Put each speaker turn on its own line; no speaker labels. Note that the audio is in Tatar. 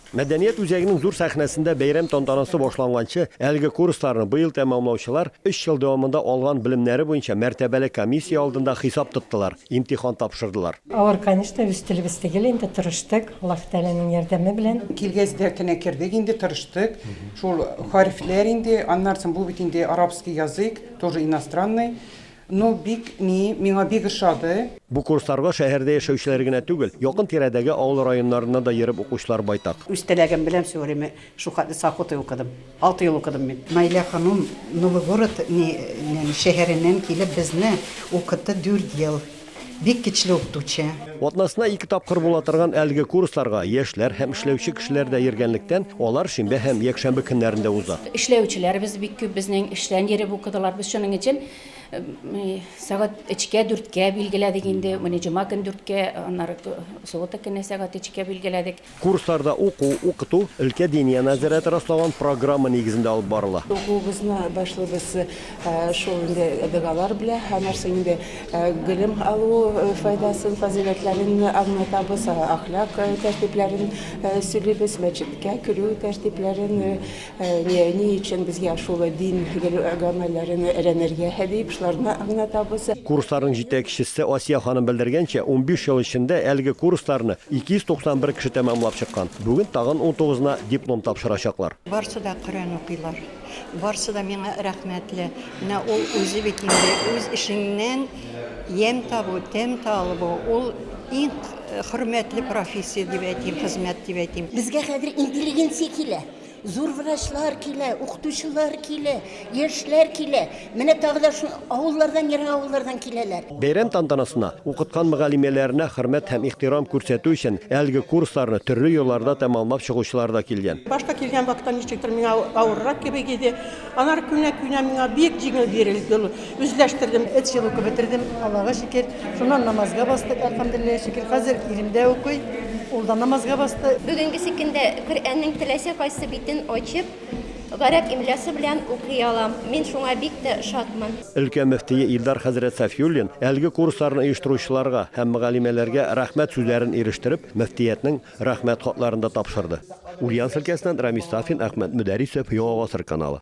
Мәдәният үзәгенең зур сәхнәсендә бәйрәм тантанасы башланганчы, әлеге курсларны быел тәмамлаучылар өч ел дәвамында алган белемнәре буенча мәртәбәле комиссия алдында хисап тоттылар, имтихан тапшырдылар. Авыр, конечно, үз
телебез тегел инде, тырыштык, Аллаһ Тәгаләнең ярдәме белән. Килгәч дәртенә кердек
инде, тырыштык. Шул хәрефләр инде, аннары соң бу бит инде арабский язык, тоже иностранный. Ну бик ни, миңа бик ошады. Бу курсларга
шәһәрдә яшәүчеләр генә түгел, якын тирәдәге авыл районнарыннан да йөреп укучылар байтак. Үз теләгем белән все
время шухатне сахоты укыдым. Алты ел укыдым мин. Наилә ханым Новый город ни нен шәһәреннән килеп безне укытты дүрт ел. Бик кечле укытучы. Атнасына ике
тапкыр була торган әлеге курсларга яшьләр һәм эшләүче кешеләр дә йөргәнлектән, алар шимбә һәм якшәмбе көннәрендә уза. Эшләүчеләребез бик
күп безнең, эштән йөреп укыдылар. Без шуның өчен сәгать өчкә, дүрткә билгеләдек инде. Менә җома көн дүрткә, аннары суббота көне сәгать өчкә билгеләдек. Курсларда уку,
укыту өлкә Диния нәзарәте раслаган программа нигезендә алып барыла. Укуыбызны
башлыйбыз шул инде догалар белән. Һәрнәрсә инде белем алу файдасын, фазыйләтләрен аңлатабыз, әхлак тәртипләрен сөйлибез, мәчеткә керү тәртипләрен. Әнием, ни өчен безгә шул дин гамәлләрен өйрәнергә? дип, шуларны аңлатабыз. Курсларның җитәкчесе
Асия ханым белдергәнчә, унбиш ел эчендә әлеге курсларны 291 кеше тәмамлап чыккан. Бүген тагын унтугызына диплом тапшырачаклар. Барсы да Коръән
укыйлар. Барсы да миңа рәхмәтле. Менә ул үзе бит инде үз эшеңнән ямь табу, тәм табу, ул иң хөрмәтле профессия дип әйтим, хезмәт дип әйтим. Безгә хәзер интеллигенция
килә. Зур врачлар килә, укытучылар килә, яшьләр килә. Менә тагы да шул авыллардан, ерак авыллардан киләләр. Бәйрәм тантанасына
укыткан мөгаллимәләренә хөрмәт һәм ихтирам күрсәтү өчен әлеге курсларны төрле елларда тәмамлап чыгучылар да килгән. Башта килгән вакытта
ничектер миңа авыррак кебек иде. Алар күнә-күнә миңа бик җиңел бирелде ул. Үзләштердем. Өч ел укып бетердем, Аллага шөкер. Шуннан намазга бастык, әлхәмдүлилләһи шөкер. Хәзер ирем дә укый, ул да намазга басты. Бүгенге көндә
Коръәннең теләсә кайсы битен ачып, гарәп имлясы белән укый алам. Мин шуңа бик тә шатмын. Өлкә мөфтие
Илдар хәзрәт Сафиуллин әлеге курсларны оештыручыларга һәм мөгаллимәләргә рәхмәт сүзләрен ирештереп, мөфтиятнең Рәхмәт хатларын да тапшырды. Ульяновск өлкәсеннән Рамис Сафин, Әхмәт Мөдәрисов, Яңа гасыр каналы.